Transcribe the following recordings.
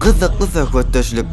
Gyzykly söhbetdeşlik.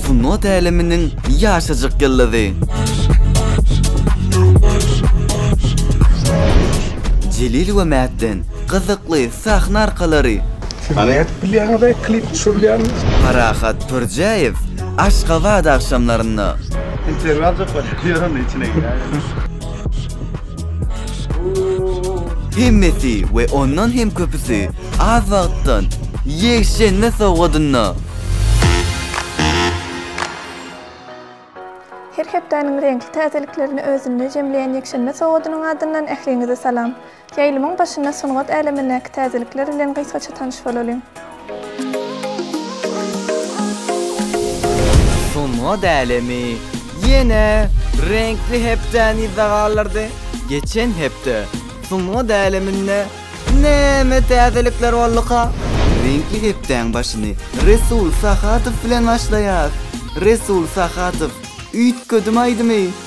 Sungat äleminiň ýaşajyk ýyldyzy. Jelil we Mätden gyzykly sahna arkalary. Siz nädip bilýäňiz-aý klip düşürilýänini? Parahat Pürjäýew Aşgabat agşamlarynda. Interwýu aljak bolýar, ýör onda içine girýär. Hemmesi we ondan hem köpüsi az wagtdan ýekşenbe sowgadynda. Her hepdäniň reňkli täzeliklerini özünde jemleýän ýekşenbe sowgadynyň adyndan ähliňize salam. Ýaýlymyň başynda sungat älemindäki täzelikler bilen gysgaça tanyş bolalyň. Sungat älemi ýene reňkli hepdäni yza galdyrdy. Geçen hepde sungat äleminde näme täzelikler bolduka? Reňkli hepdäň başyny Resul Sahadow bilen başlaýas. Resul Sahadow, Üýtgedim aýdymy!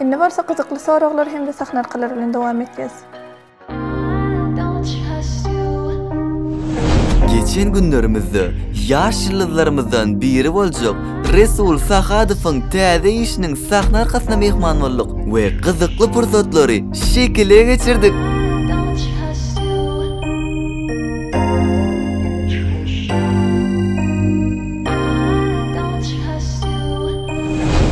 Indi bolsa gyzykly soraglar hem-de sahnarkalar bilen dowam etýäs. Geçen günlerimizde ýaş ýyldyzlarymyzdan biri boljak Resul Sahadowyň täze işiniň sahna arkasyna myhman bolduk we gyzykly pursatlary şekile geçirdik.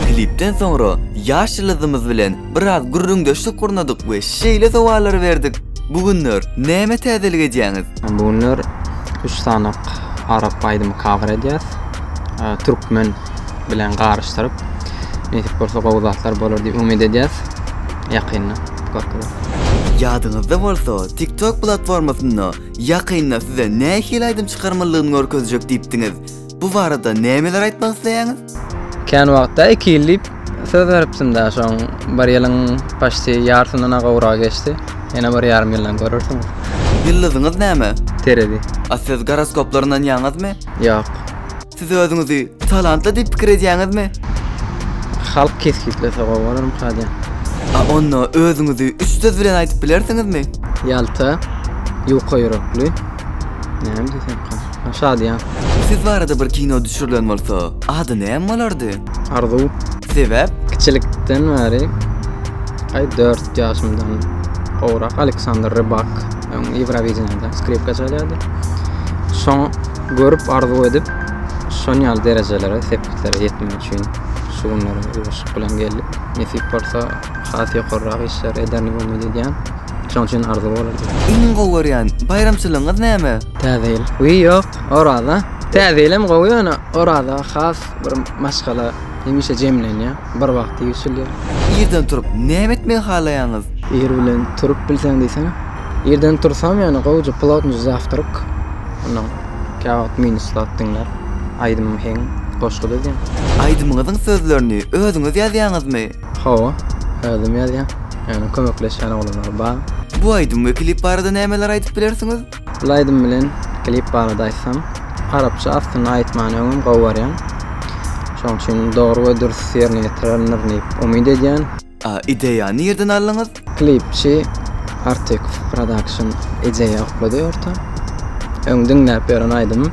Klipden soňra ýaş ýyldyzymyz bilen biraz gürrüňdeşlik gurnadyk we şeýle sowallary berdik, Bu günler näme täzelik edýäňiz? Bu günler üç sany arap aýdymy cover edýäs. Türkmen bilen garyşdyryp nesip bolsa gowy zatlar bolar diýip umyt edýäs ýakynda görkezeriz. Ýadyňyzda bolsa TikTok platformasynda ýakynda size nähili aýdym çykarmalygyny görkezjek diýipdiňiz. Bu barada nämeler aýtmak isleýäňiz? Kän wagtda iki ýyl diýip söz beripdimdä şoň bir ýylyň paşti ýarsyndan-a gowragy geçdi. Ýene bir ýarym ýyldan görersiňiz. Ýyldyzyňyz näme? Terezi. A siz goroskoplar ynanýaňyzmy? Ýok. Siz özüňizi talantly diýip pikir edýäňizmi? Halk kesgitlese gowy bolarmyka diýýän. A onda özüňizi üç söz bilen aýdyp bilersiňizmi? Ýalta, ýuka ýürekli. Näme diýsemka? Ha, şadyýan. Siz barada bir kino düşürilen bolsa, ady näme bolardy? Arzuw. Sebäp? Kiçilikden bäri, aý, dört ýaşymdan gowrak Aleksandr Rybak. Öň Ýewrowideniýede skripka çalýardy. Şoňa görüp arzuw edip, şon ýaly derejelere, sepgitlere ýetmek üçin şu günlere ýuwaşlyk bilen geldik. Nesip bolsa, has ýokarrak işler ederini umyt edýän. Şoň üçin arzuw bolady. Iň gowy görýän baýramçylygyňyz näme? Täze ýyl. Wiý, ýok, Oraza. Täze ýyl hem gowy, ýöne Oraza has Bir maşgala hemişe jemlenýär, bir wagt ýigişilýär. Irden turup näme etmegi halaýaňyz? Ir bilen turup bilseň diýsene. Irden tursam ýagny gowja plotnyj zawtryk. Ondan käwagt minus zat diňläp aýdymym heň goşgy düzýän. Aýdymyňyzyň sözlerini özüňiz ýazýaňyzmy? Hawa, özüm ýazýan. Ýagny kömekleşýän oglanlar bar. Bu aýdym we klip barada nämeler aýdyp bilersiňiz? Bul aýdym bilen klip barada aýtsam, arapça aslynda aýtmany öňem gowy görýän. Şoň üçin dogry we dürs ýerine ýetirendir diýip umyt edýän. A ideýany nirden aldyňyz? Klipçi Artek Production ideýa oklady orta. Öň diňläp ýören aýdymym.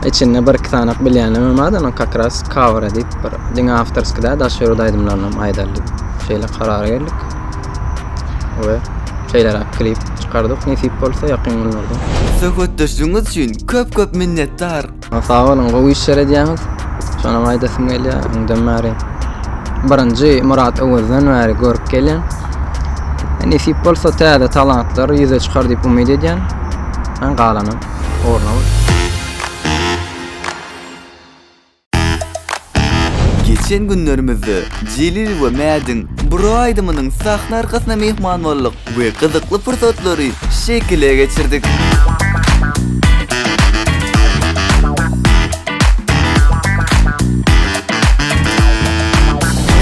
Içinde bir iki sanak bilýänimem bar, ony kakras cover edip bir diňe awtorskiý däl, daş ýurt aýdymlarynam aýdalydyp şeýle karara geldik. we şeýleräk klip çykardyk. Nesip bolsa ýakyn günlerde. Söhbetdeşligiňiz üçin köp köp minnetdar. Sag boluň gowy işler edýäňiz. Şonam aýdasym gelýär öňden bäri. Birinji Murat Öwezden bäri görüp gelýän. Nesip bolsa täze talantlar ýüze çykar diýip umyt edýän. Galanam ugruna bolsun. Geçen günlerimizde Jelil we Mädiň Bro aýdymynyň sahna arkasyna myhman bolduk we gyzykly pursatlary şekile geçirdik.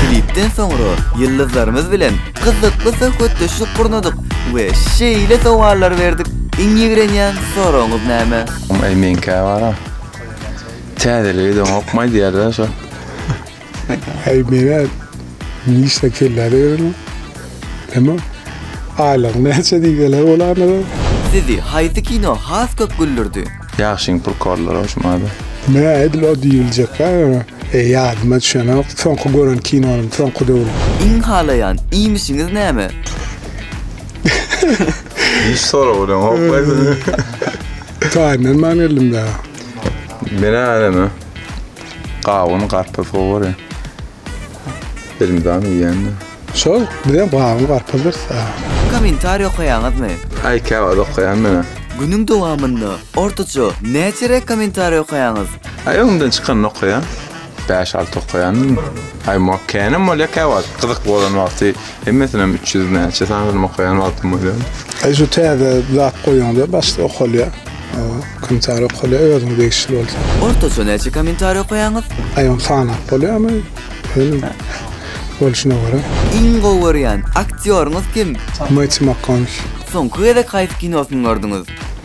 Klipden soňra ýyldyzlarymyz bilen gyzykly söhbetdeşlik gurnadyk we şeýle sowallar berdik, Iň ýigrenýän soragyňyz näme? Eý meňkä bara. Täzelik edeňokmy aýdýarda şo. Heý mena nişde kellä berin. Näme? Aýlygyň näçe diýseler bolanda. Sizi haýsy kino has köp güldürdi? Ýagşyň purkorlary hoş maňada. Mä edil o diýiljekka e ýadyma düşenok soňky gören kinonym soňky döwür. Iň halaýan iýmişiňiz näme? Hiç sorag bilen hop aýdyň. Taýyndan man geldim da. Menä näme? Gawun garpyz gowy. Elimden ýendi. Şol bilen gawun garpyz. Kommentariýa okaýaňyzmy? Aý käwagt okaýan menä. Günüň dowamynda ortaça näçe rek kommentariýa okaýaňyz? Aý öňden çykanyny okaýan. Bäş alty okaýandyň. Aý mok känem bolýa kä wagt gyzyk bolan wagty hemmesinem üç ýüz näçe sanyny okaýan wagtym bolýar. Aý şu täze zat goýuňda başda okalýa. Komentar okalýa özüňe degişli bolsa. Ortaça näçe komentar okaýaňyz? Aý ony sanap bolýamy? Öňe bolşuna görä. Iň gowy görýän aktýoryňyz kim? Matthew McConaughey. Soňky gezek haýsy kinosyny gördüňiz?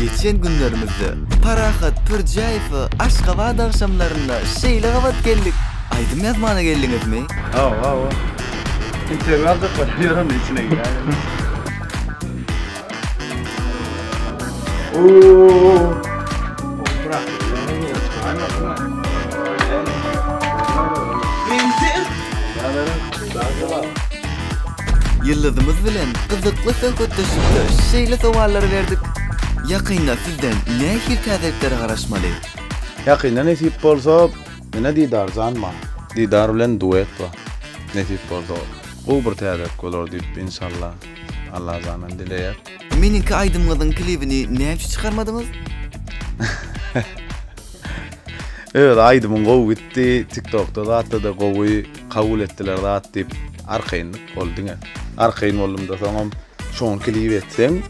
Geçen günlerimizde Parahat Pürjäýewe Aşgabat agşamlarynda şeýle gabat geldik. Aýdym ýazmana geldiňizmi? Hawa, hawa. Interwýu aljaklar, ýöremde içine girýärin. Ýyldyzymyz bilen gyzykly söhbetdeşlikde şeýle sowallary berdik. Ýakynda sizden nähili täzeliklere garaşmaly? Ýakynda nesip bolsa, ine Didar jan bar. Didar bilen duet bar. Nesip bolsa, gowy bir täzelik bolar diýip, inşallah. Allah janan dileýär. Meniňki aýdymňyzyň klibini näme üçin çykarmadyňyz? Öz aýdymyň gowy gitdi, tiktokda zatda-da gowy kabul etdiler zat diýip arkaýynlyk bol diňe. Arkaýyn boldumda soňam şoňa klip etseň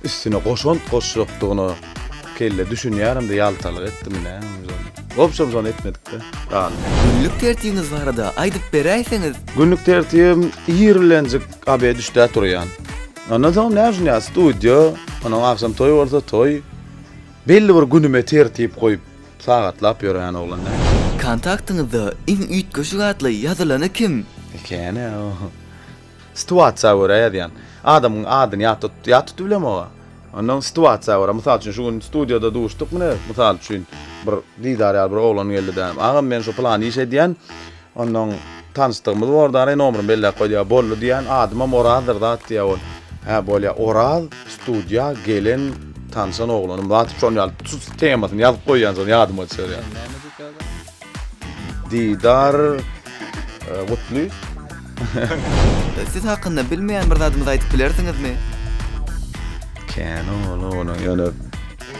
üstüne goşant goşjakdygyna kelle düşünýäremde ýaltalyk etdimi näme ozal. Wobşem şony etmedikde galdy. Günlük tertibiňiz barada aýdyp beräýseňiz? Günlük tertibim ir bilenjik Gabyr düşdä turýan. Ondan soň näme üçin ýa studio, onuň agşam toý bolsa toý. Belli bir günüme tertip goýup, sagatlap ýören oglan däl. Kontaktyňyzda iň üýtgeşik atly ýazylany kim? Ekeni o. Situasiýa görä ýazýan. Adamyň adyny ýat tutup, ýat tutup bilemok aga. Ondan situasiýa görä, mysal üçin şu gün studioda duşduk mine, mysal üçin bir didar ýaly bir oglan geldi-de, agam men şu pylan iş edýän, Onnoň tanyşdygymyz bordy, ary nomeryny belläp goýdy-a, boldy diýýän, adymam Orazdyr zat diýýä ol. Hä, bolýa, Oraz studiýa gelen tanşan oglanym zatdyp şony alyp tut temasyny ýazyp goýýan şony ýadyma düşürýän. Didar Gutly. Siz hakynda bilmeýän bir zadymyzy aýdyp bilersiňizmi? Kän ol oglan ýöne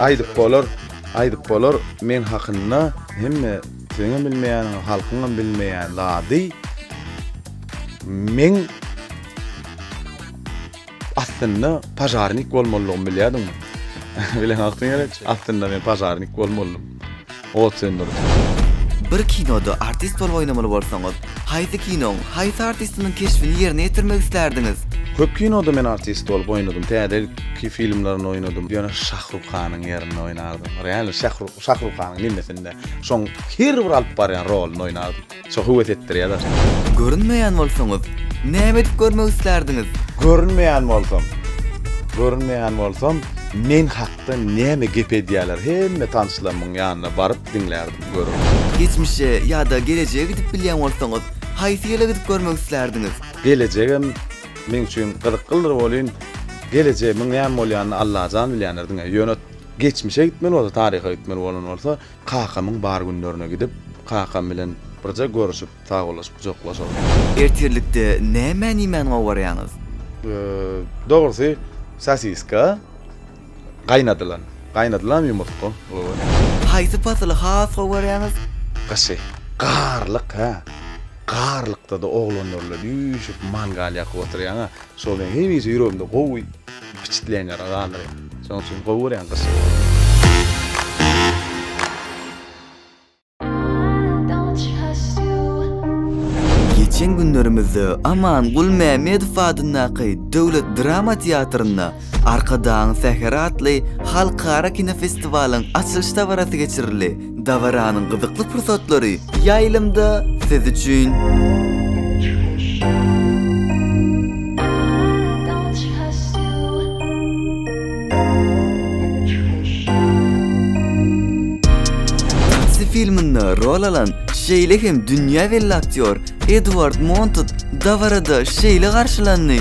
aýdyp bolar, aýdyp bolar, meň hakynda hemme. Seňem bilmeýäniňi halkyňam bilmeýän zady meň aslynda pažarnik bolmalydygymy bilýärdiňmi? Bileň wagtyň gerek, aslynda men pažarnik bolmalydym. Ot söndüriji. Bir kinoda artist bolup oýnamaly bolsaňyz, haýsy kinoň, haýsy artistiniň keşbini ýerine ýetirmek islärdiňiz? Köp kinoda men artist bolup oýnadym. Täze ki filmlerinde oýnadym. Ýöne Şahrukhanyň ýerinde oýnardym. Real Şahrukhanyň nemesinde. Şoň her bir alyp barýan roluny oýnap şo höwes etdirýä daşda. Görünmeýän bolsaňyz, näme edip görmek islärdiňiz? Görünmeýän bolsam. Görünmeýän bolsam, men hakda näme gep edýäler hemme tanşlarymyň ýanyna baryp diňlärdim, görerdim. Geçmişe ýa-da gelejege gidip bilýän bolsaňyz, haýsy ýyla gidip görmek islärdiňiz? Gelejegem meň üçin gyzyklydyr welin, gelejegimiň näme bolýanyny Allajan bilýändir diňe. Ýöne Geçmişe gitmeli bolsa, taryha gitmeli bolan bolsa, kakamyň bar günlerine gidip, kakam bilen birje görüşip, sagbollaşyp, gujaklaşaryn. Ertirlikde nämäni iýmäni gowarýaňyz? Dogrusy, sosiska, gaýnadylan, gaýnadylan ýumurtga gowy. Haýsy pasyly has gowarýaňyz? Gyşy. Garlyk, hä. Garlykda-da oglanlar bilen üýşüp, mangal ýakyp oturýaň-a. Şol meni hemişe ýüregimde gowy biçitleýän ýaly galdyrýar. Şonuň üçin gowy görýän gyşy. Geçen günlerimizde Amanguly Mämmedow adyndaky döwlet drama teatrynda Arkadagyň säheri atly halkara kinofestiwalyň açylyş dabarasy geçirildi. Dabaranyň gyzykly pursatlary ýaýlymda siz üçin. filminde rol alan, şeýle hem dünýä belli aktýor Edward Montaut dabarada şeýle garşylandy.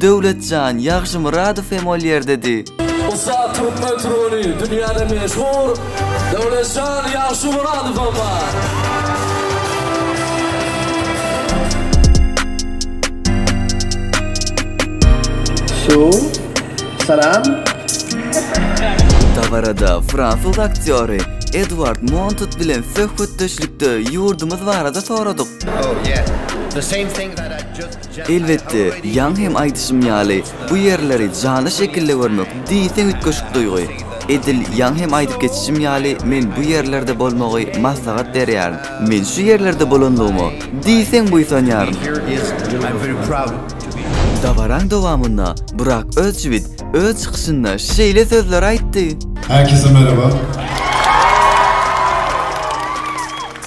Döwletjan Ýagşymyradow hem ol ýerdedi. Ussat türkmen türgeni, dünýäde meşhur Döwletjan Ýagşymyradowam bar. Su. Salam. Dabarada fransuz aktýory Edward Montot bilen söhbetdeşlikde ýurdumyz barada soradyk. Oh, yeah. The same thing that I just Elbetde, ýaňy hem aýdyşym ýaly, bu ýerleri janly şekilde görmek diýseň üýtgeşik duýgy. Edil ýaňy hem aýdyp geçişim ýaly, men bu ýerlerde bolmagy maslahat berýärin. Men şu ýerlerde bolanlygyma diýseň buýsanýaryn. Dabaraň dowamynda Burak Özçiwit öz çykyşynda şeýle sözleri aýtdy. Herkese merhaba.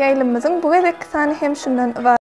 Ýaýlymymyzyň bu gezekki sany hem şundan ybarat.